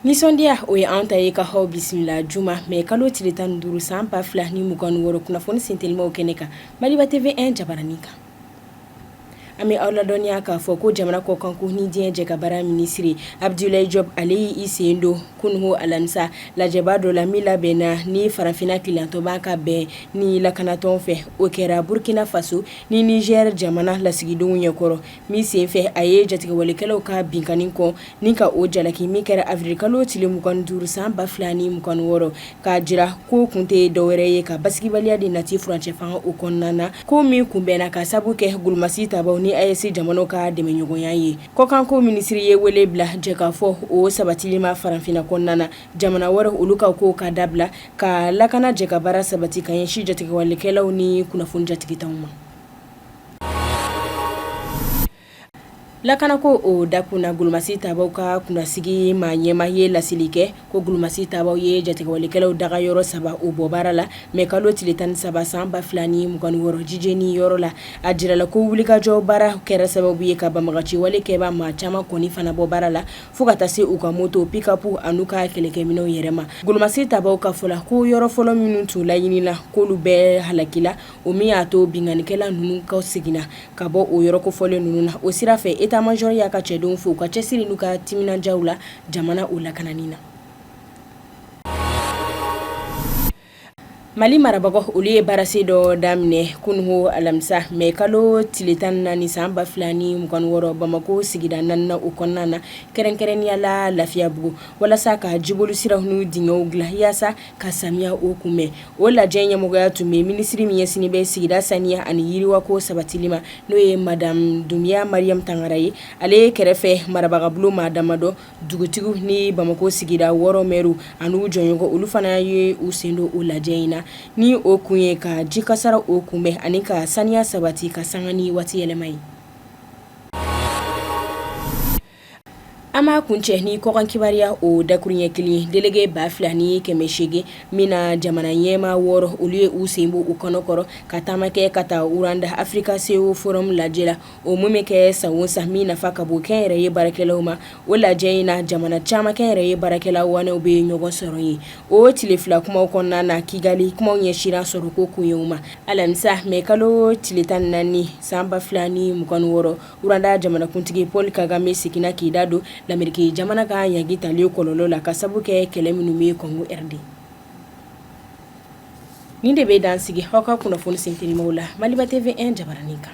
nisɔndiya o ye an ta ye ka aw bisimila juma mɛ kalo tile tan duuru san ba fila ni mugan wɔɔrɔ kunnafoni sentelimaw kɛnɛ kan maliba tv jabaranin kan An bɛ aw ladɔnniya k'a fɔ ko jamana kɔkanko ni diɲɛ jɛkabaara minisiri abudulayi jɔpu ale y'i sen don kunun alamisa lajɛba dɔ la min labɛnna ni farafinna kelenyatɔnba ka bɛn ni lakanatɔn fɛ o kɛra burukina faso ni nizɛri jamana lasigidenw ɲɛkɔrɔ min senfɛ a ye jatigɛwalekɛlaw ka binkanni kɔn Ni ka o jalaki min kɛra avril kalo tile 25 san 2026 k'a jira k'o kun tɛ dɔwɛrɛ ye ka basigibaliya de nati furancɛ fanga o kɔnɔna na, ko min kunbɛnna k'a sabu kɛ golomasi tabaaw ni AES jamanaw ka dɛmɛɲɔgɔnya ye. Kɔkanko minisiri ye wele bila jɛkafɔ o sabatili ma farafinna kɔnɔna na, jamana wɛrɛw olu ka kow ka dabila, ka lakana jɛkabaara sabati ka ɲɛsin jatigɛwalekɛlaw ni kunnafoni jatigitanw ma. Lakanako o dakun na golomasi tabaaw ka kunnasigi maa ɲɛmaa ye laseli kɛ ko golomasi tabaaw ye jatigɛwalekɛlaw dagayɔrɔ saba o bɔ baara la mɛ kalo tile tan ni saba san ba fila ni mugan wɔɔrɔ jijɛni yɔrɔ la a jirala ko wulikajɔ baara kɛra sababu ye ka banbaganci walekɛbaa maa caman kɔni fana bɔ baara la fo ka taa se u ka moto pikɔpu ani u ka kɛlɛkɛminɛnw yɛrɛ ma golomasi tabaaw ka fɔ la ko yɔrɔ fɔlɔ minnu tun laɲinina ko olu bɛɛ halakila o min y'a to binkannikɛla ninnu kɔseginna ka bɔ o yɔrɔ kofɔlen ninnu na o sira fɛ etamazɔri y'a ka cɛdenw fo u ka cɛsiri n'u ka timinandiyaw la jamana o lakanani na mali marabagaw olu ye baarasen dɔ daminɛ kunun alamisa mɛ kalo tile tan naani san ba fila ni mugan wɔɔrɔ bamakɔ sigida naaninan o kɔnɔna na kɛrɛnkɛrɛnnenya la lafiyabugu walasa ka jiboli siraw n'u dingɛw dilan walasa ka samiya o kunbɛn o lajɛ ɲɛmɔgɔya tun bɛ minisiri min ɲɛsinnen bɛ sigida saniya ani yiriwako sabatili ma n'o ye madamu dunbiya mariyamu tangara ye ale kɛrɛfɛ marabagabulon maa damadɔ dugutigiw ni bamakɔ sigida wɔɔrɔ mɛriw ani u jɛɲɔgɔnw olu fana ye u sen don o lajɛ in na ni o kun ye ka ji kasaara o kunbɛn ani ka saniya sabati ka sanga ni waati yɛlɛma ye An b'a kuncɛ ni kɔkan kibaruya o dakurunɲɛ kelen ye delege ba fila ni kɛmɛ seegin min na jamana ɲɛmaa wɔɔrɔ olu ye u sen bɔ u kɔnɔkɔrɔ ka taama kɛ ka taa uruwanda africa ceo forum lajɛ la o min bɛ kɛ san o san min nafa ka bon kɛnyɛrɛye baarakɛlaw ma o lajɛ in na jamana caman kɛnyɛrɛye baarakɛla waanew bɛ ɲɔgɔn sɔrɔ yen o tile fila kumaw kɔnɔna na kigali kumaw ɲɛsinna sɔrɔko koɲɛw ma alamisa mɛ kalo tile tan naani san ba fila ni mugan wɔɔrɔ Uruwanda jamanakuntigi Paul Kagame seginna k'i da don lameriki jamana ka ɲangili talenw kɔlɔlɔ la ka sabu kɛ kɛlɛ minnu ye kɔngo de nin de bɛ dan sigi aw ka kunnafoni sintininw la mali TV1 jabaranin kan